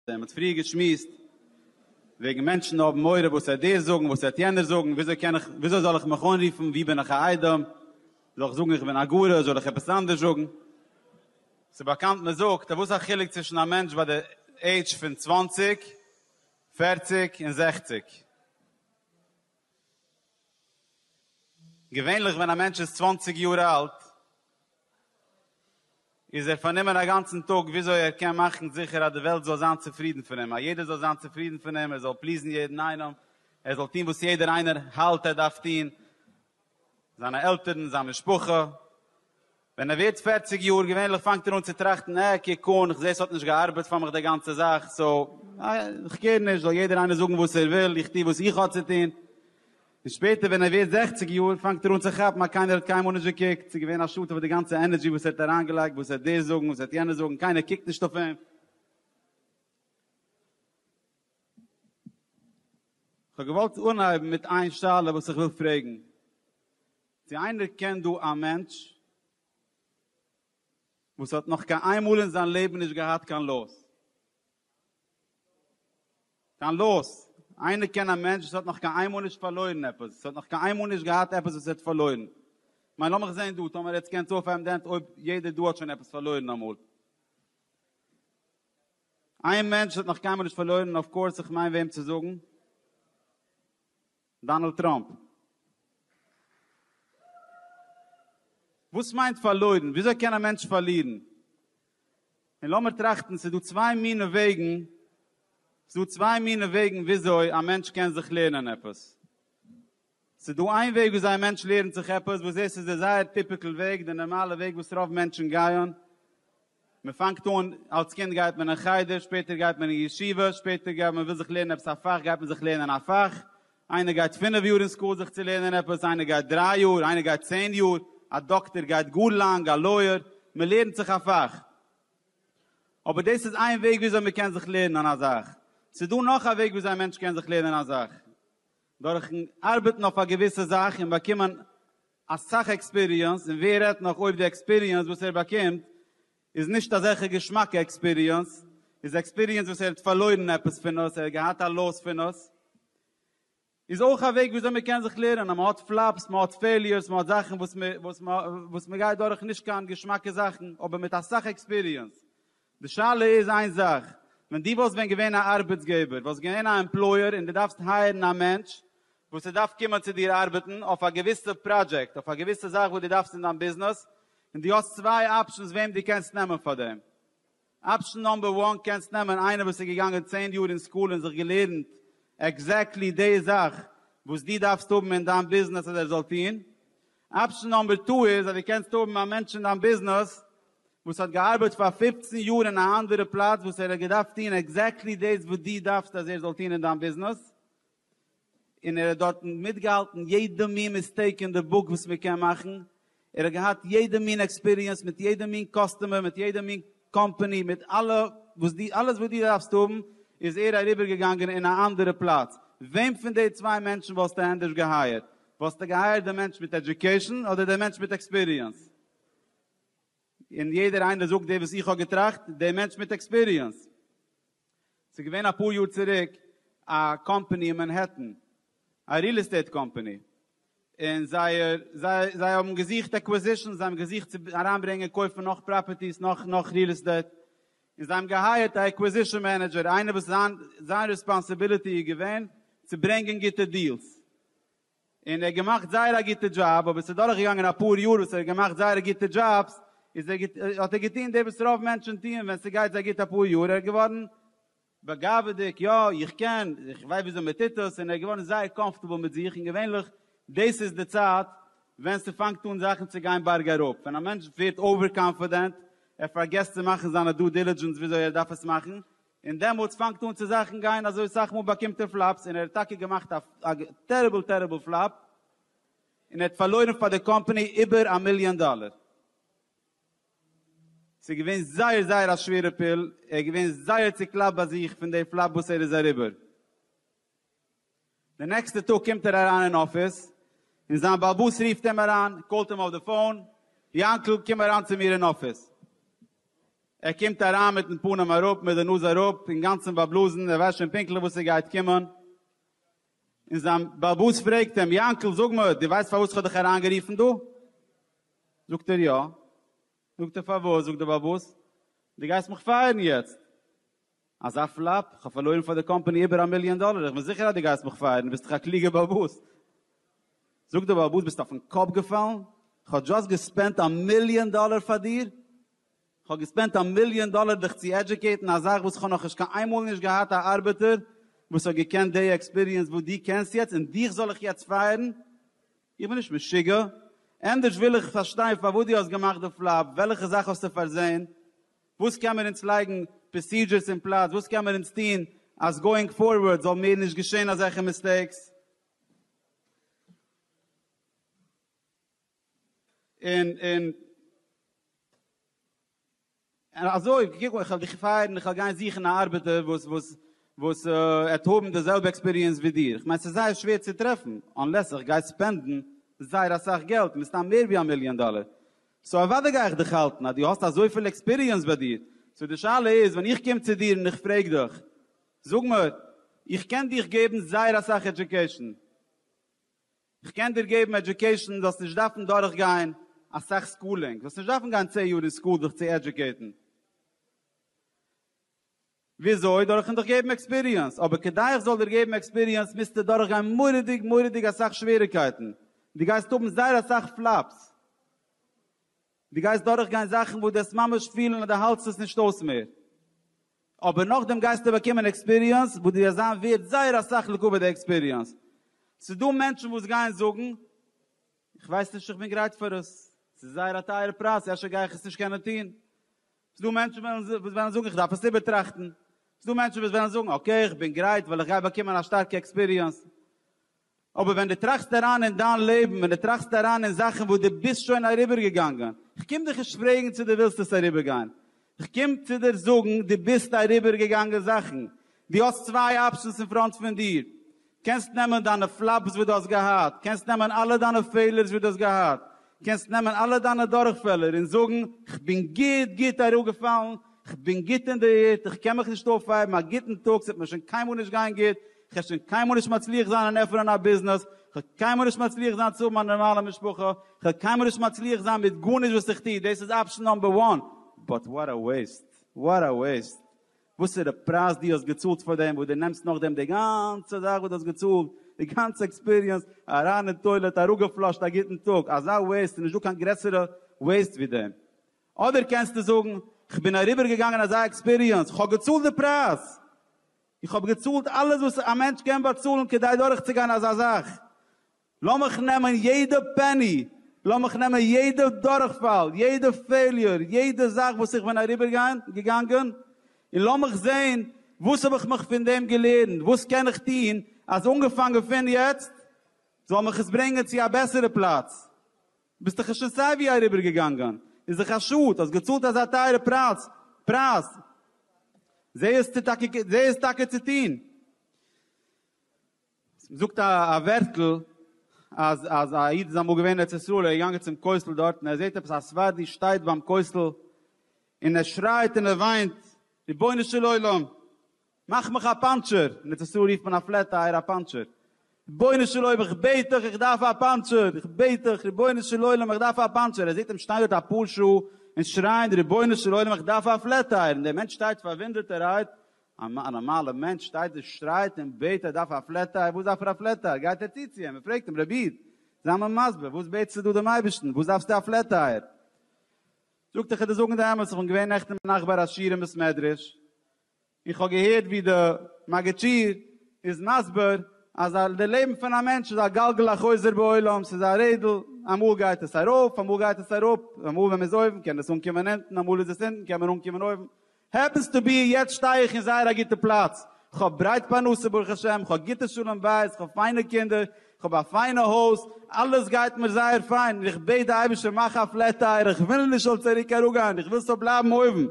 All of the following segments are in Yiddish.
מען האט פריער געשמועסט וועגן מענטשן האבן מורא וואס העט דער זאגן וואס העט יענער זאגן וויאזוי קען איך וויאזוי זאל איך מיך אנרופן ווי בין איך א איידעם זאל איך זאגן איך בין א גארא זאל איך עפעס אנדערש זאגן ס'איז באקאנט מען זאגט אז וואס א חילוק צווישן א מענטש ביי די עידזש פון צוואַנציק, פֿערציק און זעכציק. געווענליך ווען א מענטש איז צוואַנציק יאר אלט איז ער פארנומען א גאנצן טאג וויאזוי ער קען מאכן זיכער אז די וועלט זאל זיין צופרידן פון אים, אז יעדער זאל זיין צופרידן פון אים, ער זאל פליזן יעדן איינעם, ער זאל טון וואס יעדער איינער האלט ער דארף טון, זיינע עלטערן, זיין משפחה, ווען ער ווערט פערציג יאר, געווענליך פאנגט ער אן צו טראכטן, אה, קוק אן, כ'זע ס'האט נישט געארבעט פאר מיך די גאנצע זאך, סאו, כ'קעיר נישט, זאל יעדער איינער זאגן וואס ער וויל, איך טו וואס איך האב צו טון. און שפעטער ווען ער ווערט זעכציג יאר, פאנגט ער אן צו כאפן אז קיינער האט קיינמאל נישט געקוקט, ס'איז געווען א שאטעוו אויף די גאנצע ענערדזשי וואס ער האט אריינגעלייגט, וואס העט דער זאגן, וואס העט יענער זאגן, קיינער קוקט נישט אויף אים. כ'האב געוואלט אנהייבן מיט איין שאלה וואס איך וויל פרעגן. צו איינער קען דא א מענטש וואס האט נאך קיין איין מאל אין זיין לעבן נישט געהאט קיין לאס? קיין לאס. איינער קען א מענטש וואס האט נאך קיין איין מאל נישט פארלוירן עפעס? וואס האט נאך קיין איין מאל נישט געהאט עפעס וואס ער האט פארלוירן? כ'מיין לאמיך זעהן דא, טאמער עטס קענטס אויפהייבן די הענט אויב יעדער דא האט שוין עפעס פארלוירן אמאל. איין מענטש האט נאך קיינמאל נישט פארלוירן און אויף קאורס איך מיין וועם צו זאגן, דאנעלד טראמפ. וואס מיינט פארלוירן? וויאזוי קען א מענטש פארלירן? און לאמיר טראכטן, ס'איז דא צוויי מינע וועגן, ס'איז דא צוויי מינע וועגן וויאזוי א מענטש קען זיך לערנען עפעס. ס'איז דא איין וועג וויאזוי א מענטש לערנט זיך עפעס, וואס דאס איז דער זייער טיפיקעל וועג, דער נארמאלער וועג וואס רוב מענטשן גייען. מען פאנגט אן, אלס קינד גייט מען אין חדר, שפעטער גייט מען אין ישיבה, שפעטער גייט מען וויל זיך לערנען עפעס א פאך, גייט מען זיך לערנען א פאך. איינער גייט פינף יאר אין סקול זיך צו לערנען עפעס, איינער גייט דריי יאר, איינער גייט צען יאר, א דאקטער גייט גאר לאנג, א לויער, מען לערנט זיך א פאך. אבער דאס איז איין וועג וויאזוי מען קען זיך לערנען א זאך. ס'איז דא נאך א וועג וויאזוי א מענטש קען זיך לערנען א זאך. דורכ'ן ארבעטן אויף א געוויסע זאך און באקומען אסאך עקספיריענס, און ווער רעדט נאך אויב די עקספיריענס וואס ער באקומט איז נישט אזעלכע געשמאקע עקספיריענס, איז עקספיריענס וואס ער האט פארלוירן עפעס פון עס, ער האט געהאט א לאס פון עס, איז אויך א וועג ווי אזוי מען קען זיך לערנען אז מען האט פלאפס, מען האט פעיליערס, מען האט זאכן וואס מען גייט דורך נישט קיין געשמאקע זאכן, אבער מיט אסאך עקספיריענס די שאלה איז איין זאך, ווען דו וואלסט ווען געווען א ארבעטסגעבער, וואלסט געווען א עמפלויער און דו דארפסט הייערן א מענטש וואס עס דארף קומען צו דיר ארבעטן אויף א געוויסע פראדזשעקט, אויף א געוויסע זאך וואס דו דארפסט אין דיין ביזנעס, און דו האסט צוויי אפשענס וועם דו קענסט נעמען פאר דעם. אפשען נאמבער וואן, קענסט נעמען איינער וואס איז געגאנגען צען יאר אין סקול און זיך געלערנט עקזעקטלי די זאך וואס דו דארפסט האבן אין דיין ביזנעס אז ער זאל טון, אפשן נאמבער טו איז אז דו קענסט האבן א מענטש אין דיין ביזנעס וואס האט געארבעט פאר פֿופֿצן יאר אין א אנדערע פלאץ וואס ער האט געדארפט טון עקזעקטלי דאס וואס דו דארפסט אז ער זאל טון אין דיין ביזנעס און ער האט דארטן מיטגעהאלטן יעדע מין מיסטעיק אין די בוק וואס מען קען מאכן, ער האט געהאט יעדע מין עקספיריענס מיט יעדע מין קאסטומער מיט יעדע מין קאמפעני מיט אלע וואס דו אלעס וואס דו דארפסט האבן איז ער אריבער געגאנגען אין א אנדערע פלאץ, וועם פון די צוויי מענטשן וואלסטו ענדערש געהייערט? וואלסטו געהייערט די מענטש מיט עדיוקעישן אדער די מענטש מיט עקספיריענס? און יעדער איינער זאגט די וואס איך האב געטראכט, די מענטש מיט עקספיריענס. ס'איז געווען אפאר יאר צוריק א קאמפעני אין מאנהעטן, א ריעל עסטעיט קאמפעני, און זייער, זיי, זיי האבן געזוכט אקוואזישאנס, זיי האבן געזוכט צו אריינברענגען קויפן נאך פראפערטיס, נאך, נאך ריעל עסטעיט, און זיי האבן געהייערט א אקוואזישאן מענעדזשער, איינער וואס זיין, זיין רעספאנסיביליטי איז געווען צו ברענגען גוטע דיעלס, און ער האט געמאכט זייער א גוטע דזשאב, אבער עס איז דורך געגאנגען אפאר יאר וואס ער האט געמאכט זייער גוטע דזשאבס, איז ער האט ער געטון דאס וואס רוב מענטשען טוען ווען ס'גייט זיי גוט אפאר יאר, ער איז געווארן בגאווה'דיג, יא איך קען, איך ווייס וויאזוי מען טוט עס, און ער איז געווארן זייער קאמפארטעבל מיט זיך, און געווענליך דאס איז די צייט ווען ס'פאנגט אן זאכן צו גיין בארג אראפ, ווען א מענטש ווערט אווער קאנפידענט, ער פארגעסט צו מאכן זיינע דו דילידזשענס וויאזוי ער דארף עס מאכן, און דעמאלטס פאנגט אן צו זאכן גיין אזוי סאך מאל באקומט ער פלאפס און ער האט טאקע געמאכט א טעריבל טעריבל פלאפ און ער האט פארלוירן פאר די קאמפאני איבער א מיליאן דאלער ס'איז געווען זייער זייער א שווערע פיל ער איז געווען זייער צוקלאפט ביי זיך פון די פלאפ וואס ער איז אריבער. די נעקסטע טאג קומט ער אריין אין אפיס, און זיין באלעבאס רופט אים אריין, קאלט אים אויף די פאון, יאנקל קום אריין צו מיר אין אפיס. ער קומט אריין מיטן פנים אראפ, מיט די נאז אראפ, אינגאנצן באבלאזן, ער ווייסט שוין פונקטליך וואס עס גייט קומען, און זיין באלעבאס פרעגט אים, יאנקל, זאג מיר, דו ווייסט פארוואס איך האב דיך אריין גערופן דא? זאגט ער, יא. זאגט ער, פארוואס? זאגט די באלעבאס, דו גייסט מיך פייערן יעצט. אזא פלאפ? כ'האב פארלוירן פאר די קאמפאני איבער א מיליאן דאלער, איך בין זיכער אז דו גייסט מיך פייערן, ביסט דאך א קלוגע באבוס. זאגט דער באבוס, ביסט אויפן קאפ געפאלן? כ'האב דזשאסט געספענדט א מיליאן דאלער פאר דיר? כ'האב געספענדט א מיליאן דאלער דיך צו עדזשוקעיטן א זאך וואס כ'האב נאכנישט קיין איין מאל נישט געהאט א ארבעטער וואס האט געקענט די עקספיריענס וואס דו קענסט יעצט און דיך זאל איך יעצט פייערן? איך בין נישט משוגע? ענדערש וויל איך פארשטיין פארוואס דו האסט געמאכט די פלאפ, וועלכע זאך האסטו פארזען? וואס קען מיר אונז לייגן פראסידזשערס אין פלאץ, וואס קען מיר אונז טון אז גאוינג פארווארד זאל מער נישט געשען אזעלכע מיסטעיקס, און און און אזוי, קוק איך וועל דיך פייערן, איך וועל גיין זוכן א ארבעטער וואס וואס וואס עט האבן די זעלבע עקספיריענס ווי דיר, איך מיין ס'איז זייער שווער צו טרעפן, אנלעס איך גיי ספענדן זייער אסאך געלט, מסתם מער ווי א מיליאן דאלער, סאו אוודאי גיי איך דיך האלטן אז דו האסט אזויפיל עקספיריענס ביי דיר, סאו די שאלה איז ווען איך קום צו דיר און איך פרעג דיך, זאג מיר, איך קען דיך געבן זייער אסאך עדיוקעישן, איך קען דיר געבן עדיוקעישן זאלסט נישט דארפן דורך גיין אסאך סקולינג, זאלסט נישט דארפן גיין צען יאר אין סקול זיך צו עדיוקעיטן, וויאזוי? דורכן דיך געבן עקספיריענס, אבער כדי איך זאל דיר געבן עקספיריענס מוזטו דורכגיין מורא'דיג מורא'דיג אסאך שוועריגקייטן, דו גייסט האבן זייער אסאך פלאפס, דו גייסט דורכגיין זאכן וואס דו וועסט ממש פילן אז דו האלטסט עס נישט אויס מער, אבער נאכדעם גייסטו באקומען עקספיריענס וואס דו וועסט זיין ווערד זייער אסאך לגבי די עקספיריענס. ס'איז דא מענטשן וואס גייען זאגן, איך ווייס נישט איך בין גרייט פאר עס, ס'איז זייער א טייערע פרייז, אפשר גיי איך עס נישט קענען טון, ס'איז דא מענטשן וואס וועלן זאגן איך דארף עס איבערטראכטן, ס'איז דא מענטשן וואס וועלן זאגן אקעי איך בין גרייט ווייל איך גיי באקומען א שטארקע עקספיריענס, אבער ווען דו טראכסט אריין אין דיין לעבן, ווען דו טראכסט אריין אין זאכן וואס דו ביסט שוין אריבערגעגאנגען, כ'קום דיך נישט פרעגן צו דו ווילסט עס אריבערגיין, כ'קום צו דיר זאגן דו ביסט אריבערגעגאנגען זאכן, דו האסט צוויי אפשענס אין פראנט פון דיר, קענסט נעמען דיינע פלאפס וואס דו האסט געהאט, קענסט נעמען אלע דיינע פעלערס וואס דו האסט געהאט, קענסט נעמען אלע דיינע דורכפעלער און זאגן, כ'בין גוט גוט אראפגעפאלן, כ'בין גוט אין די ערד, איך קען מיך נישט אויפהייבן, א גוטן טאג, ס'וועט מיר שוין קיינמאל נישט גיין גוט, כ'וועל שוין קיינמאל נישט מצליח זיין אין עפענען א ביזנעס, כ'וועל קיינמאל נישט מצליח זיין צו האבן א נארמאלע משפחה, כ'וועל קיינמאל נישט מצליח זיין מיט גארנישט וואס איך טו, דאס איז אפשן נאמבער וואן, באט וואט א וועיסט, וואט א וועיסט. וואסערע פרייז דו האסט געצאלט פאר דעם, וואס דו נעמסט נאכדעם די גאנצע זאך וואס דו האסט געצאלט, די גאנצע עקספיריענס, אריין אין טוילעט, אראפגעפלאשט, א גוטן טאג, אזא וועיסט, ס'איז נישטא קיין גרעסערע וועיסט ווי דעם. אדער קענסטו זאגן, כ'בין אריבערגעגאנגען אזא עקספיריענס, כ'האב געצאלט די פרייז! איך האב געצאלט אלעס וואס א מענטש קען באצאלן כדי דורכצוגיין אזא זאך, לאמיך נעמען יעדע פעני, לאמיך נעמען יעדע דורכפאל, יעדע פעיליור, יעדע זאך וואס איך בין אריבערגעגאנגען, און לאמיך זען וואס האב איך מיך פון דעם געלערנט, וואס קען איך טון אז אנגעפאנגען פון יעצט זאל מיך עס ברענגען צו א בעסערע פלאץ. ביסט דאך עס שוין סייווי אריבערגעגאנגען, איז דאך א שאד האסט געצאלט אזא טייערע פרייז, זע עס טאקע צו טון. זאגט א ווערטל אז אז א איד איז אמאל געווען אין ארץ ישראל ער איז געגאנגען צום כותל דארט און ער זעט עפעס א ספרדי שטייט ביים כותל און ער שרייט און ער וויינט רבונו של עולם מאך מיך א פאנטשער אין ארץ ישראל רופט מען א פלעט טייער א פאנטשער רבונו של עולם איך בעט דיך איך דארף א פאנטשער איך בעט דיך רבונו של עולם איך דארף א פאנטשער ער זעט אים שטיין דארט אפאר שעה און שרייען רבונו של עולם איך דארף א פלעט טייער און דער מענטש שטייט פארוואונדערט ער רייט א נארמאלע מענטש שטייט און שרייט און בעט ער דארף א פלעט טייער, וואס דארף ער א פלעט טייער? גייט ער צו צו אים און פרעגט אים, רבי איד, זיי מיר מסביר, וואס בעטסטו דא דעם אייבערשטן, וואס דארפסטו א פלעט טייער? זאגט ער, כ'על דיר זאגן די אמת, כ'בין געווען נעכטן ביינאכט ביי ר' שיר'ן בית מדרש, און כ'האב געהערט ווי די מגיד שיעור איז מסביר אז די לעבן פון א מענטש איז א גלגל החוזר בעולם, ס'איז א רעדל, אמאל גייט עס ארויף, אמאל גייט עס אראפ, אמאל ווען מ'איז אויבן קען עס אנקומען אונטן, אמאל איז עס אונטן קען מען אנקומען אויבן, העפענס טו בי יעצט שטיי איך אין זייער א גוטע פלאץ, כ'האב ברייט פרנסה ברוך השם, כ'האב גוטע שלום בית, כ'האב פיינע קינדער, כ'האב א פיינע הויז, אלעס גייט מיר זייער פיין, און איך בעט די אייבערשטער מאך א פלעט טייערע, איך ווילל נישט זאל צוריק אראפגיין, איך וויל ס'זאל בלייבן אויבן.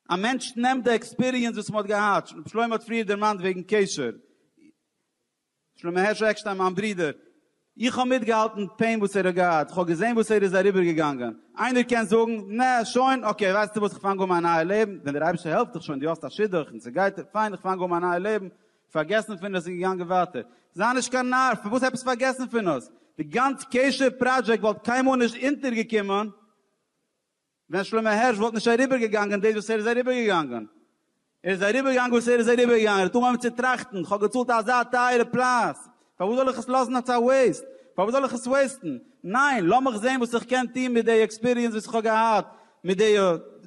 א מענטש נעמט די עקספיריענס וואס מ'האט געהאט, שלמה האט פריער דערמאנט וועגן קשר, שלמה הערש עקשטיין מיין ברודער, איך האב מיטגעהאלטן פעין וואס ער האט געהאט, איך האב געזען וואס ער איז אריבערגעגאנגען, איינער קען זאגן, נע, שוין, אקעי, ווייסטו וואס, איך פאנג אן מיין נייע לעבן, ווען דער אייבערשטער העלפט דיך שוין, דו האסט א שידוך און ס'גייט דיר פיין, איך פאנג אן מיין נייע לעבן, פארגעסן פון עס און געגאנגען ווייטער. זיי נישט קיין נאר, פארוואס עפעס פארגעסן פון עס? די גאנץ קשר פראדזשעקט וואלט קיינמאל נישט אונטערגעקומען. ווען שלמה הערש וואלט נישט אריבערגעגאנגען דאס וואס ער איז אריבערגעגאנגען. ער איז אריבערגעגאנגען וואס ער איז אריבערגעגאנגען. ער האט אנגעהויבן צו טראכטן, כ'האב געצאלט אזא טייערע פרייז, פארוואס זאל איך עס לאזן אלס א וועיסט? פארוואס זאל איך עס וועיסטן? ניין, לאמיך זען וואס איך קען טון מיט די עקספיריענס וואס איך האב געהאט, מיט די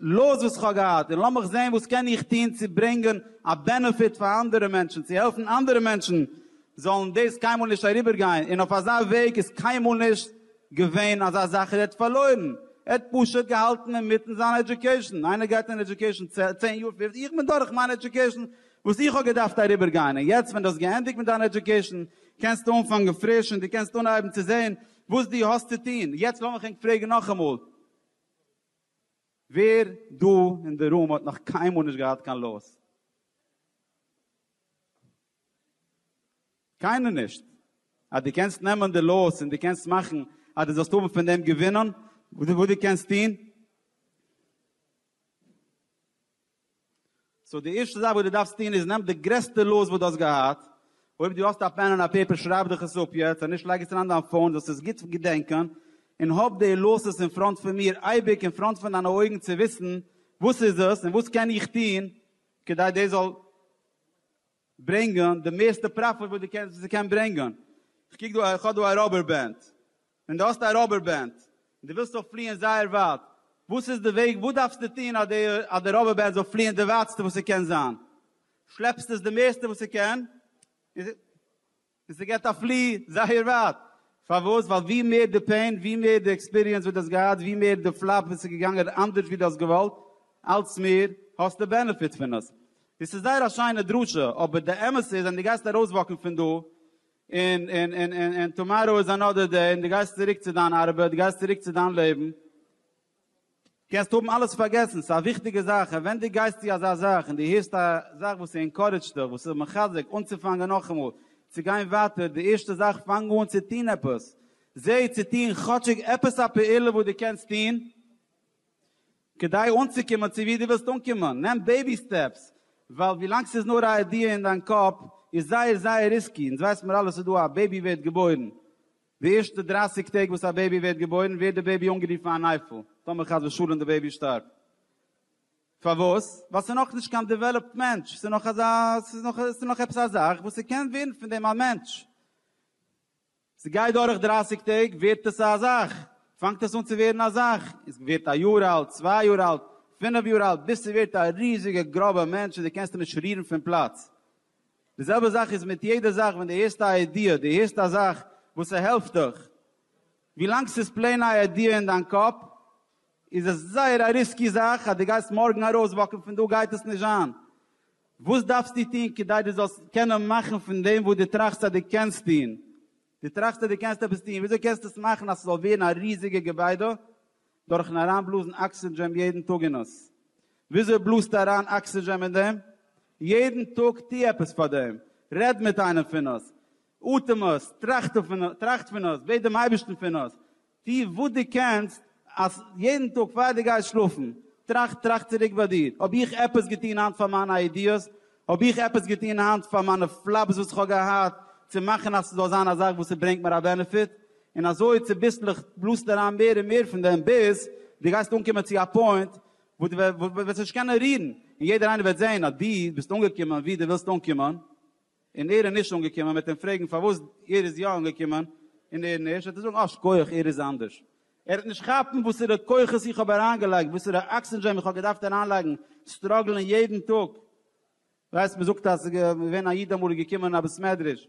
לאס וואס איך האב געהאט, און לאמיך זען וואס קען איך טון צו ברענגען א בענעפיט פאר אנדערע מענטשן, צו העלפן אנדערע מענטשן זאלן דאס קיינמאל נישט אריבערגיין, און אויף אזא וועג איז קיינמאל נישט געווען אזא זאך ער האט פארלוירן, ער האט פשוט געהאלטן אינמיטן זיין עדיוקעישן, איינער גייט אין עדיוקעישן צען יאר פֿופֿצן, איך בין דורך מיין עדיוקעישן וואס איך האב געדארפט אריבער גיין און יעצט ווען דו האסט געענדיגט מיט דיין עדיוקעישן קענסטו אנפאנגען פריש און דו קענסט אנהייבן צו זען וואס דו האסט צו טון, יעצט לאמיך ענק פרעגן נאכאמאל, ווער דא אין די רום האט נאך קיינמאל נישט געהאט קיין לאס? קיינער נישט. אז דו קענסט נעמען די לאוס און דו קענסט מאכן אז דו זאלסט האבן פון דעם געווינען, וואס דו קענסט טון. סאו די ערשטע זאך וואס דו דארפסט טון איז נעם די גרעסטע לאוס וואס דו האסט געהאט, אויב דו האסט א פען און א פעיפער שרייב דיך עס אפ יעצט, אז נישט לייג עס אריין אין דיין פאון זאלסט עס גוט געדענקען, און האב די לאוסעס אין פראנט פון מיר, אייביג אין פראנט פון דיינע אויגן צו וויסן וואס איז עס און וואס קען איך טון כדי דאס זאל ברענגען די מערסטע פראפיט וואס די קענסט וואס ס'קען ברענגען, כ'קוק דא איך האב דא א ראבער בענד, און די האסט א ראבער בענד, און די ווילסט זאל פליען זייער ווייט, וואס איז די וועג וואס דארפסטו טוהן אז די אז די ראבער בענד זאל פליען די ווייטסטע וואס ס'קען זיין, שלעפסט עס די מערסטע וואס ס'קען, און. און ס'געט א פלי זייער ווייט. פארוואס? ווייל ווי מער די פעין, ווי מער די עקספיריענס וואס די האסט געהאט, ווי מער די פלאפ וואס איז געגאנגען אנדערש ווי די האסט געוואלט, אלץ מער האסטו בענעפיט פון עס. דאס איז זייער א שיינע דרשה, אבער די אמת איז ווען די גייסט ארויסוואקן פון דא, און און און און טאמאראו איז אנאדער דעי, און די גייסט צוריק צו דיין ארבעט, די גייסט צוריק צו דיין לעבן, קענסט האבן אלעס פארגעסן, ס'איז א וויכטיגע זאך, און ווען דו גייסט צו אזא זאך און דו הערסט א זאך וואס אינקארעדזשט דיך, וואס איז מחזק אנצופאנגען נאכאמאל צו גיין ווייטער, די ערשטע זאך, פאנג אן צו טון עפעס. זע צו טון כאטשיג עפעס א פעולה וואס דו קענסט טון כדי אנצוקומען צו וואו דו ווילסט אנקומען. נעם בעיבי סטעפס, ווייל ווילאנג ס'איז נאר א איידיע אין דיין קאפ איז זייער זייער ריסקי, אונז ווייסן מיר אלע ס'איז דא א בעיבי ווערט געבוירן, די ערשטע דרייסיג טעג וואס א בעיבי ווערט געבוירן ווערט די בעיבי אנגערופן אן אייפל, טאמער חס ושלום די בעיבי שטארבט. פארוואס? ווייל ס'איז נאך נישט קיין דעוועלאפט מענטש, ס'איז נאך אזא, ס'איז נאך, ס'איז נאך עפעס א זאך וואס ס'קען ווערן פון דעם א מענטש. ס'גייט דורך דרייסיג טעג ווערט עס א זאך, פאנגט עס אן צו ווערן א זאך, און ס'ווערט א יאר אלט, צוויי יאר אלט, פינף יאר אלט, ביז ס'ווערט א ריזיגע גראבע מענטש און דו קענסט אים נישט רירן פון פלאץ. די זעלבע זאך איז מיט יעדע זאך ווען די הערסט א איידיע, די הערסט א זאך וואס ס'העלפט דיך, ווילאנג ס'איז פלעין א איידיע אין דיין קאפ איז עס זייער א ריסקי זאך אז די גייסט מארגן ארויס וואקן פון דא גייט עס נישט זיין. וואס דארפסטו טון כדי די זאלסט קענען מאכן פון דעם וואס די טראכסט אז די קענסט טון? די טראכסט אז די קענסט עפעס טון, וויאזוי קענסטו עס מאכן אז ס'זאל ווערן א ריזיגע געביידע? דורכן אריינבלאזן אקסידזשעם יעדן טאג אין אונז. וויאזוי בלאזטו אריין אקסידזשעם אין דעם? יעדן טאג טו עפעס פאר דעם. רעד מיט איינעם פון עס. אטעם עס. טראכט פון עס. בעט דעם אייבערשטן פון עס. טו וואס דו קענסט אז יעדן טאג פאר דו גייסט שלאפן, טראכט, טראכט צוריק ביי דיר, האב איך עפעס געטון היינט פאר מיינע איידיעס? האב איך עפעס געטון היינט פאר מיינע פלאפס וואס איך האב געהאט צו מאכן אז ס'זאל זיין א זאך וואס ס'ברענגט מיר א בענעפיט? און אזוי צוביסלעך בלאזט אריין מער און מער פון דעם ביז דו גייסט אנקומען צו א פוינט וואו דו וועסט נישט קענען רירן, און יעדער איינער וועט זען אז דו ביסט אנגעקומען וואו דו ווילסט אנקומען, און ער איז נישט אנגעקומען, מען וועט אים פרעגן פארוואס ער איז יא אנגעקומען און ער נישט, וועט ער זאגן אה שכוח ער איז אנדערש, ער וועט נישט כאפן וואסערע כוחות איך האב אריינגעלייגט, וואסערע אקסידזשען איך האב געדארפט אריינלייגן, סטראגלען יעדן טאג, ווייסט מען זאגט אז ס'איז געווען א איד אמאל איז געקומען אין א בית מדרש,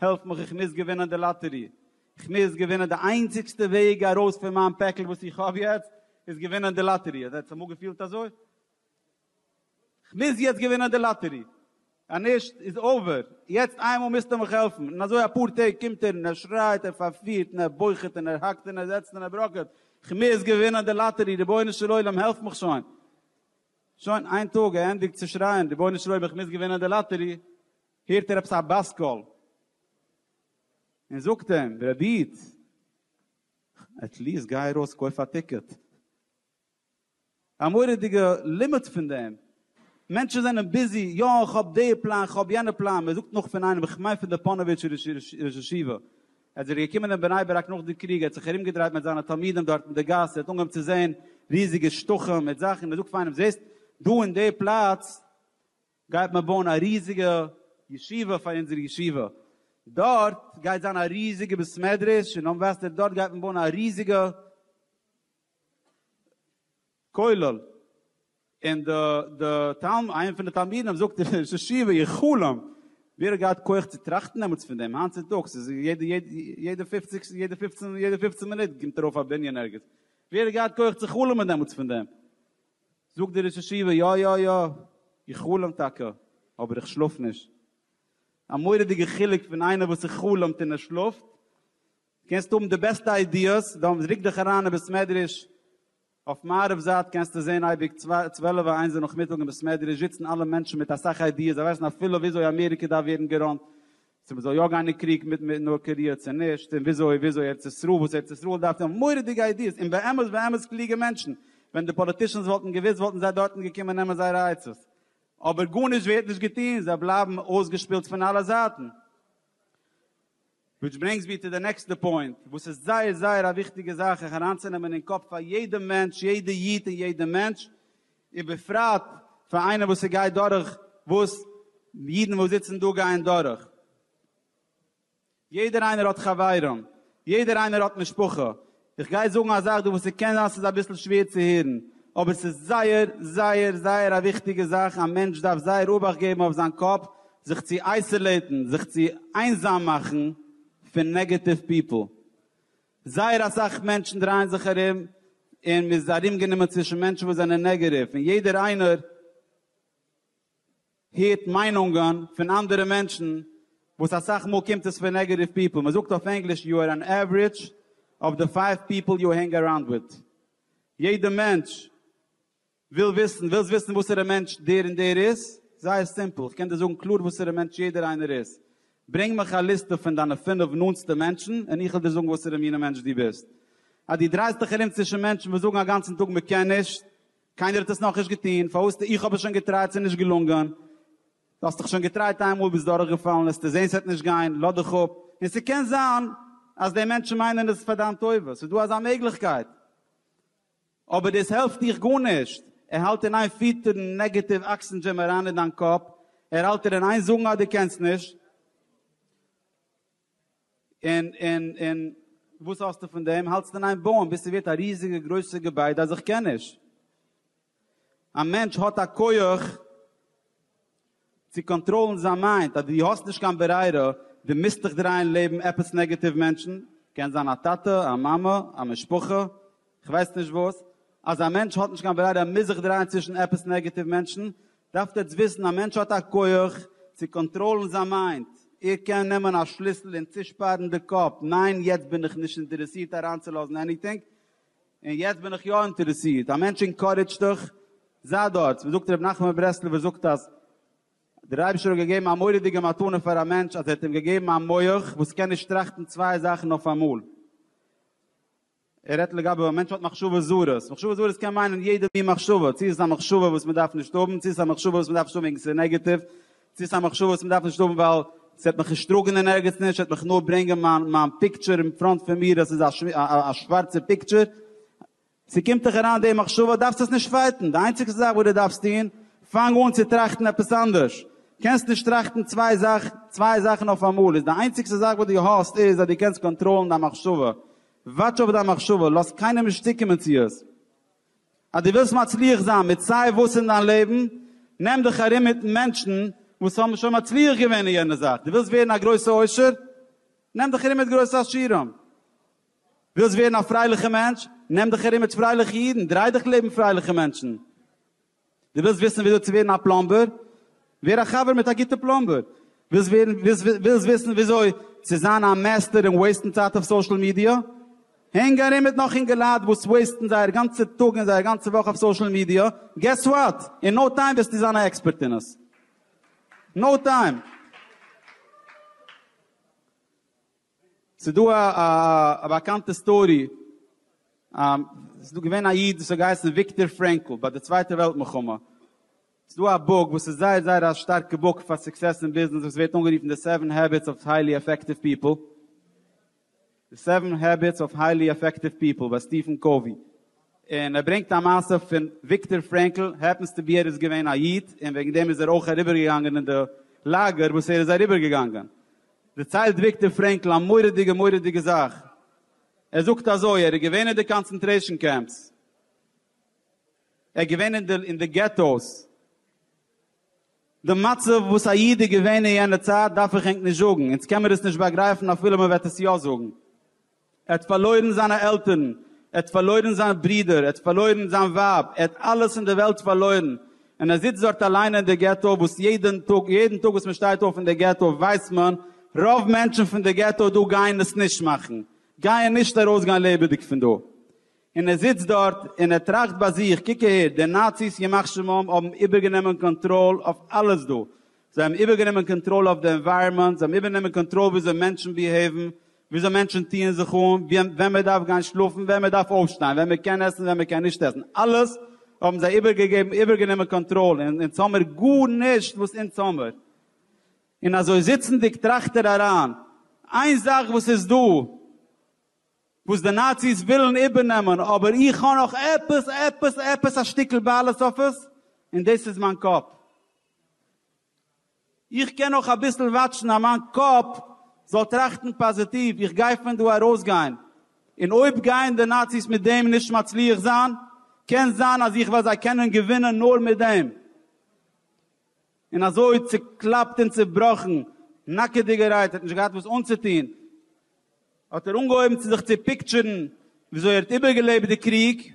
העלף מיך איך מוז געווינען די לאטערי, איך מוז געווינען, די איינציגסטע וועג ארויס פון מיין פעקל וואס איך האב יעצט איז געווינען די לאטערי, האט זיך אמאל געפילט אזוי? איך מוז יעצט געווינען די לאטערי, אז נישט איז אווער, יעצט איינמאל מוזטו מיך העלפן, און אזוי אפאר טעג קומט ער און ער שרייט, ער פארפירט און ער בוכעט און ער האקט און ער זעצט און ער בראקעט, איך מוז געווינען די לאטערי, רבונו של עולם העלף מיך שוין, שוין איין טאג ער ענדיגט צו שרייען, רבונו של עולם איך מוז געווינען די לאטערי, הערט ער עפעס א באס קול און זאגט אים, ר' איד, עט ליעסט גיי ארויס קויף א טיקעט. א מורא'דיגע לימוד פון דעם. מענטשן זענען ביזי, יא איך האב די פלאן, איך האב יענע פלאן, מען זאגט נאך פון איינעם, איך מיין פון די פאנאוויטשער ראש ישיבה, ער איז זיך געקומען אין בני ברק נאך די קריג, ער האט זיך ארום געדרייט מיט זיינע תלמידים דארט אין די גאס, ער האט אנגעהויבן צו זען ריזיגע שטחים מיט זאכן, מען זאגט פאר איינעם, זעסט דא אין די פלאץ גייט מען בויען א ריזיגע ישיבה פאר אונזער ישיבה, דארט גייט זיין א ריזיגע בית מדרש און דאן וועסטו דארט גייט מען בויען א ריזיגע כולל, און די די תלמ איינער פון די תלמידים זאגט די ראש ישיבה איך חלום, ווער האט געהאט כח צו טראכטן דעמאלטס פון דעם, היינט צוטאגס איז יעדע יעדע פופציג יעדע פופצן יעדע פופצן מינוט קומט ארויף א בנין ערגעץ, ווער האט געהאט כח צו חלומ'ן דעמאלטס פון דעם. זאגט דער ראש ישיבה, יא יא יא, איך חלום טאקע, אבער איך שלאף נישט. א מורא'דיגע חילוק פון איינער וואס ער חלומ'ט און ער שלאפט. קענסט האבן די בעסטע איידיעס, דאן ריק דיך אריין אין בית מדרש, אויף מערב זייט קענסטו זען אייביג צוועלף און איינס די נאכמיטאג אין בית מדרש זיצן אלע מענטשן מיט אסאך איידיעס, זיי ווייסן אפילו וויאזוי אמעריקע דארף ווערן געראנט, צו מען זאל יא גיין אין קריג מיט מיט נאר קאריע צו נישט, און וויאזוי וויאזוי ארץ ישראל, וואס ארץ ישראל דארף דעם, מורא'דיגע איידיעס, און באמת באמת קלוגע מענטשן, ווען די פאליטישאנס וואלטן געוואוסט וואלטן זיי דארטן געקומען נעמען זייערע עצות, אבער גארנישט ווערט נישט געטון, זיי בלייבן אויסגעשפילט פון אלע זייטן. וויטש ברענגס מיר טו די נעקסטע פוינט, וואס איז זייער זייער א וויכטיגע זאך זיך אריינצונעמען אין קאפ פאר יעדע מענטש, יעדע איד און יעדע מענטש, ובפרט פאר איינער וואס ס'גייט דורך וואס אידן וואס זיצן דא גייען דורך. יעדער איינער האט חברים, יעדער איינער האט משפחה. איך גיי זאגן א זאך דא וואס ס'קען זיין ס'איז אביסל שווער צו הערן, אבער ס'איז זייער זייער זייער א וויכטיגע זאך, א מענטש דארף זייער אבאכט געבן אויף זיין קאפ זיך צו אייסעלעטן, זיך צו איינזאם מאכן פון נעגעטיוו פיפל. זייער אסאך מענטשן דרייען זיך ארום און מען איז ארומגענומען צווישן מענטשן וואס זענען נעגעטיוו און יעדער איינער הערט מיינונגען פון אנדערע מענטשן וואס אסאך מאל קומט עס פון נעגעטיוו פיפל, מען זאגט אויף ענגליש יו אר ען עווערידזש אוו די פייוו פיפל יו הענג אראונד וויט, יעדע מענטש וויל וויסן, ווילסט וויסן וואסערע מענטש דער און דער איז? זייער סימפל, איך קען דיר זאגן קלאר וואסערע מענטש יעדער איינער איז. ברענג מיך א ליסטע פון דיינע פינף נאנטסטע מענטשן און איך וועל דיר זאגן וואסערע מינע מענטש דו ביסט. אז דו דרייסט דיך ארום צווישן מענטשן וואס זאגן א גאנצן טאג מען קען נישט, קיינער האט עס נאכנישט געטון, פארוואס טו איך האב עס שוין געטרייט ס'איז נישט געלונגען, דו האסט דאך שוין געטרייט איינמאל ביסט דורכגעפאלן, העסטו זען ס'וועט נישט גיין, לאז דיך אפ, און ס'קען זיין אז די מענטשן מיינען עס פאר דיין טובה, ס'איז דא אזא מעגליכקייט. אבער דאס העלפט דיך גארנישט, ער האלט אין איין פיטערן נעגעטיוו אקסענדזשים אריין אין דיין קאפ, ער האלט דיר אין איין זאגן אז דו קענסט נישט, און און און וואס האסטו פון דעם, האלטסט אין איין בויען ביז ס'ווערט א ריזיגע גרויסע געביידע אז איך קען נישט. א מענטש האט א כח. צו קאנטראלן זיין מיינד אז דו האסט נישט קיין ברירה, דו מוזט דיך דרייען לעבן עפעס נעגעטיוו מענטשן, קען זיין א טאטע, א מאמע, א משפחה, כ'ווייס נישט וואס, אז א מענטש האט נישט קיין ברירה ער מוז זיך דרייען צווישן עפעס נעגעטיוו מענטשן, דארפסט עטס וויסן א מענטש האט א כח צו קאנטראלן זיין מיינד, ער קען נעמען א שליסל און צושפארן די קאפ, ניין יעצט בין איך נישט אינטערעסירט אריינצולאזן עניטינג, און יעצט בין איך יא אינטערעסירט, א מענטש אינקארעדזשט דיך, זיי דארט. וואס זאגט רבי נחמן מברסלב זאגט אז דער אייבערשטער האט געגעבן א מורא'דיגע מתנה פאר א מענטש אז ער האט אים געגעבן א מח וואס קען נישט טראכטן צוויי זאכן אויפאמאל. ער רעדט לגבי א מענטש האט מחשבות זרות, מחשבות זרות קען מיינען יעדע מין מחשבה, צו עס איז א מחשבה וואס מען דארף נישט האבן, צו עס איז א מחשבה וואס מען דארף נישט האבן וועגן עס איז נעגעטיוו, צו ס'איז א מחשבה וואס מ'דארף נישט האבן ווייל ס'וועט מיך נישט טראגן אין ערגעץ נישט, ס'וועט מיך נאר ברענגען מיין מיין פיקטשער אין פראנט פון מיר אז ס'איז א שווארצער פיקטשער. צו קומט דיך אריין די מחשבה דארפסט עס נישט פייטן, די איינציגסטע זאך וואס דו דארפסט טון, פאנג אן צו טראכטן עפעס אנדערש. קענסט נישט טראכטן צוויי זאכן צוויי זאכן אויפאמאל, איז די איינציגסטע זאך וואס דו האסט איז אז דו קענסט קאנטראלן דיין מחשבה. וואטש אויף דיין מחשבה, לאז קיינעם נישט צוקומען צו עס. אז דו ווילסט מצליח זיין מיט סיי וואס אין דיין לעבן, נעם דיך ארום מיט מענטשן וואס האבן שוין מצליח געווען אין יענע זאך. דו ווילסט ווערן א גרויסע עושר? נעם דיך ארום מיט גרויסע עשירים. ווילסט ווערן א פרייליכע מענטש? נעם דיך ארום מיט פרייליכע אידן, דריי דיך לעבן פרייליכע מענטשן. דו ווילסט וויסן וויאזוי צו ווערן א פלאמבער? ווער א חבר מיט א גוטע פלאמבער. ווילסט ווערן ווילסט וויסן וויאזוי צו זיין א מעסטער אין וועיסטן צייט אויף סאושעל מידיע? הענג ארום מיט נאך אינגעלייט וואס וועיסטן זייער גאנצע טאג און זייער גאנצע וואך אויף סאושעל מידיע, געס וואט? אין נאו טיים וועסטו זיין א עקספערט אין עס. נאו טיים! ס'איז דא א א באקאנטע סטארי, ס'איז דא געווען א איד וואס האט געהייסן וויקטאר פרענקל ביי די צווייטע וועלט מלחמה, ס'איז דא א בוק וואס איז זייער זייער א שטארקע בוק פאר סוקסעס אין ביזנעס וואס ווערט אנגערופן די סעווען העביטס אוו היילי אפעקטיוו פיפל, די סעווען העביטס אוו היילי אפעקטיוו פיפל ביי סטיפען קאווי, און ער ברענגט א מעשה פון וויקטאר פרענקל, העפענס טו בי ער איז געווען א איד און וועגן דעם איז ער אויך אריבערגעגאנגען אין די לאגער וואס ער איז אריבערגעגאנגען, דערציילט וויקטאר פרענקל א מורא'דיגע מורא'דיגע זאך, ער זאגט אזוי, ער איז געווען אין די קאנצענטרעישאן קעמפס, ער איז געווען אין די געטאוס, די מצב וואס א איד איז געווען אין יענע צייט דארף איך ענק נישט זאגן, אונז קען מיר עס נישט באגרייפן אפילו מען וועט עס יא זאגן. ער האט פארלוירן זיינע עלטערן, ער האט פארלוירן זיין ברודער, ער האט פארלוירן זיין ווייב, ער האט אלעס אין דער וועלט פארלוירן, און ער זיצט דארט אליין אין דער געטא, וואס יעדן טאג, יעדן טאג וואס מען שטייט אויף אין דער געטא ווייסט מען, רוב מענטשן פון דער געטא דא גייען עס נישט מאכן, גייען נישט ארויסגיין לעבעדיג פון דא. און ער זיצט דארט, און ער טראכט ביי זיך, קוק אהער, די נאציס, ימח שמם, האבן איבערגענומען קאנטראל אויף אלעס דא, זיי האבן איבערגענומען קאנטראל אויף די ענווייראמענט, זיי האבן איבערגענומען קאנטראל וויאזוי מענטשן ביהעיוון, וויאזוי מענטשן טוען זיך אן, ווען מען דארף גיין שלאפן, ווען מען דארף אויפשטיין, ווען מען קען עסן, ווען מען קען נישט עסן, אלעס האבן זיי איבערגעגעבן, איבערגענומען קאנטראל, און אונז האמיר גארנישט וואס אונז האמיר. און אזוי זיצנדיג טראכט ער אריין, איין זאך וואס איז דא וואס די נאציס ווילן איבערנעמען, אבער איך האב נאך עפעס, עפעס, עפעס א שטיקל בעלות אויף עס, און דאס איז מיין קאפ. איך קען נאך אביסל וואטשן אז מיין קאפ זאל טראכטן פאזיטיוו, איך גיי פון דא ארויסגיין, און אויב גייען די נאציס מיט דעם נישט מצליח זיין, קען זיין אז איך וועל זיי קענען געווינען נאר מיט דעם. און אזוי צוקלאפט און צובראכן, נאקעדיגערהייט, ער האט נישט געהאט וואס אנצוטון, האט ער אנגעהויבן צו זיך צו פיקטשערן וויאזוי ער האט איבערגעלעבט די קריג,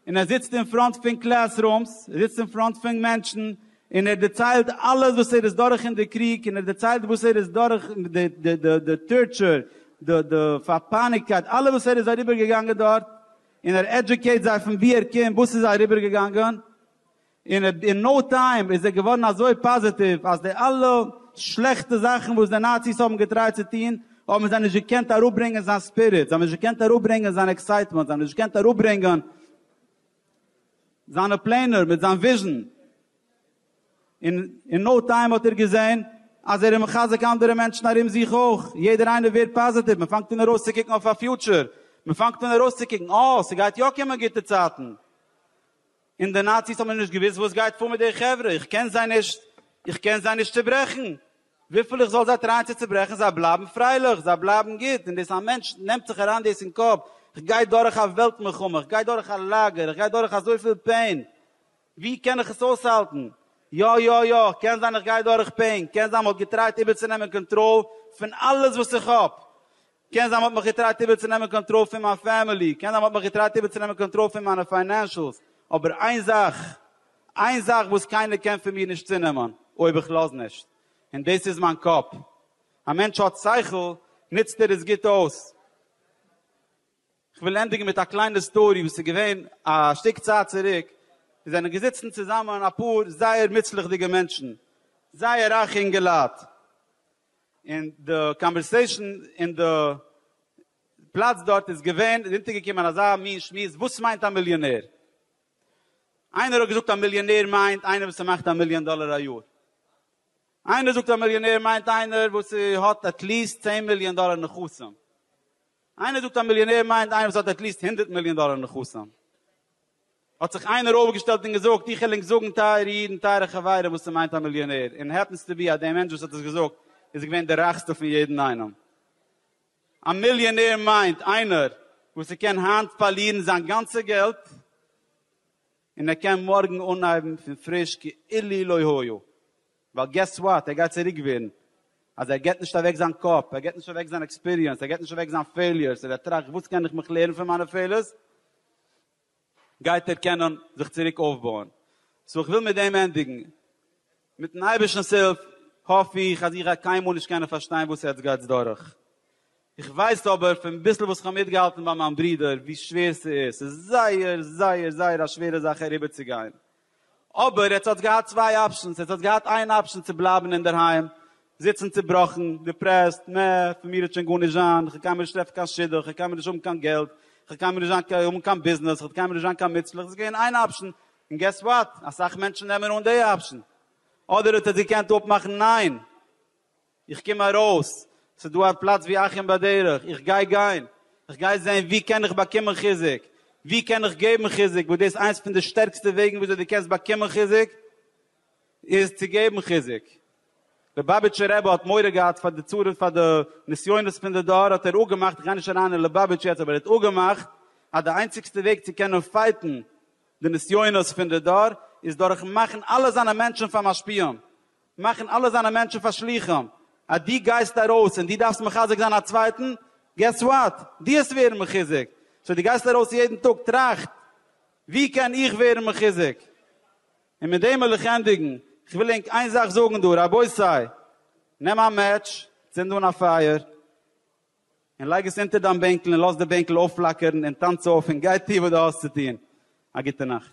און ער זיצט אין פראנט פון קלעס רומס, ער זיצט אין פראנט פון מענטשן, און ער דערציילט אלעס וואס ער איז דורך אין די קריג, און ער דערציילט וואס ער איז דורך, די טארטשור, די פארפייניגקייט, אלעס וואס ער איז אריבערגעגאנגען דארט, און ער עדיוקעיט זיי פון וואו ער קומט, וואס איז אריבערגעגאנגען, און אין נאו טיים איז ער געווארן אזוי פאזיטיוו אז די אלע שלעכטע זאכן וואס די נאציס האבן געטרייט צו טון האבן זיי נישט געקענט אראפברענגען זיין ספיריט, זיי האבן נישט געקענט אראפברענגען זיין עקסייטמענט, זיי האבן נישט געקענט אראפברענגען זיינע פלענער מיט זיין וויזשן, און אין נאו טיים האט ער געזען אז ער איז מחזק אנדערע מענטשן ארום זיך אויך, יעדער איינער ווערט פאזיטיוו, מען פאנגט אן ארויסצוקוקן אויף א פיוטשער, מען פאנגט אן ארויסצוקוקן, אה, ס'גייט יא קומען גוטע צייטן. און די נאציס האבן נישט געוואוסט וואס גייט פאר מיט די חברה, איך קען זיי נישט, איך קען זיי נישט צוברעכן, וויפיל איך זאל זיי טרייען צו צוברעכן זיי בלייבן פרייליך, זיי בלייבן גוט, און דאס א מענטש נעמט זיך אריין דאס אין קאפ, איך גיי דורך א וועלט מלחמה, איך גיי דורך א לאגער, איך גיי דורך אזויפיל פעין, ווי קען איך עס אויסהאלטן, יא יא יא, קען זיין איך גיי דורך פעין, קען זיין מ'האט געטרייט איבערצונעמען קאנטראל פון אלעס וואס איך האב, קען זיין מ'האט מיך געטרייט איבערצונעמען קאנטראל פון מיין פעמילי, קען זיין מ'האט מיך געטרייט איבערצונעמען קאנטראל פון מיינע פיינענשלס, אבער איין זאך, איין זאך וואס קיינער קען פון מיר נישט צונעמען, אויב איך לאז נישט, און דאס איז מיין קאפ. א מענטש האט שכל, נוצט ער עס גוט אויס. כ'וויל ענדיגן מיט א קליינע סטארי וואס איז געווען א שטיק צייט צוריק, עס זענען געזיצן צוזאמען אפאר זייער מוצלח'דיגע מענטשן, זייער רייכע אינגעלייט, און די קאנווערסעישאן אין די פלאץ דארט איז געווען, איז אונטערגעקומען אזא מין שמועס, וואס מיינט א מיליאנער? איינער האט געזאגט א מיליאנער מיינט איינער וואס ס'מאכט א מיליאן דאלער א יאר. איינער זאגט א מיליאנער מיינט איינער וואס האט עטליעסט צען מיליאן דאלער נכסים. איינער זאגט א מיליאנער מיינט איינער וואס האט עטליעסט הונדערט מיליאן דאלער נכסים. האט זיך איינער אויפגעשטעלט און געזאגט, איך וויל ענק זאגן טייערע אידן, טייערע חברים, וואס ס'מיינט א מיליאנער, און העפענס טו בי אז דער מענטש וואס האט עס געזאגט איז געווען דער רייכסטער פון יעדן איינעם. א מיליאנער מיינט איינער וואס ער קען היינט פארלירן זיין גאנצע געלט, און ער קען מארגן אנהייבן פון פריש כאילו לא היה. ווייל געס וואט, ער גייט צוריק ווערן, אז ער געט נישט אוועק זיין קאפ, ער געט נישט אוועק זיין עקספיריענס, ער געט נישט אוועק זיין פעיליערס, און ער טראכט וואס קען איך מיך לערן פון מיינע פעילערס, גייט ער קענען זיך צוריק אויפבויען. סאו איך וויל מיט דעם ענדיגן. מיט'ן אייבערשטנ'ס הילף האף איך אז איר גייט קיינמאל נישט קענען פארשטיין וואס עטץ גייטס דורך. איך ווייס אבער פון ביסל וואס כ'האב מיטגעהאלטן ביי מיין ברודער ווי שווער ס'איז, ס'איז זייער זייער זייער א שווערע זאך אריבערצוגיין, אבער עטס האטס געהאט צוויי אפשענס, עטס האטס געהאט איין אפשען צו בלייבן אינדערהיים, זיצן צובראכן, דיפרעסט, נע, פון מיר וועט שוין גארנישט זיין, כ'וועל קיינמאל נישט טרעפן קיין שידוך, כ'וועל קיינמאל נישט האבן קיין געלט, כ'וועל קיינמאל נישט זיין האבן קיין ביזנעס, כ'וועט קיינמאל נישט זיין קיין מוצלח, דאס איז געווען איין אפשען, און געס וואט, אסאך מענטשן נעמען אן די אפשען. אדער עטס געקענט אפמאכן ניין, איך קום ארויס, ס'איז דא א פלאץ ווי אחים בדרך, איך גיי גיין, איך גיי זען ווי קען איך באקומען חיזוק, ווי קען איך געבן חיזוק, וואס דאס איינס פון די שטערקסטע וועגן וויאזוי דו קענסט באקומען חיזוק, איז צו געבן חיזוק. ליובאביטשער רבי האט מורא געהאט פאר די צרות פאר די נסיונות פון די דור האט ער אפגעמאכט, איך גיי נישט אריין אין ליובאביטש יעצט, אבער ער האט אפגעמאכט אז די איינציגסטע וועג צו קענען פייטן די נסיונות פון די דור איז דורכן מאכן אלע זיינע מענטשן פאר משפיעים, מאכן אלע זיינע מענטשן פאר שליחים, אז דו גייסט ארויס און דו דארפסט מחזק זיין א צווייטן, געס וואט, דו האסט ווערן מחוזק, סאו דו גייסט ארויס יעדן טאג טראכט, ווי קען איך ווערן מחוזק? און מיט דעם וויל איך ענדיגן, איך וויל ענק איין זאך זאגן דא, רבותי, נעם א מעטש, צינד אן א פייער, און לייג עס אונטער דיין בענקל און לאז די בענקל אויפפלאקערן און טאנץ אויף און גיי טו וואס דו האסט צו טון. א גוטע נאכט.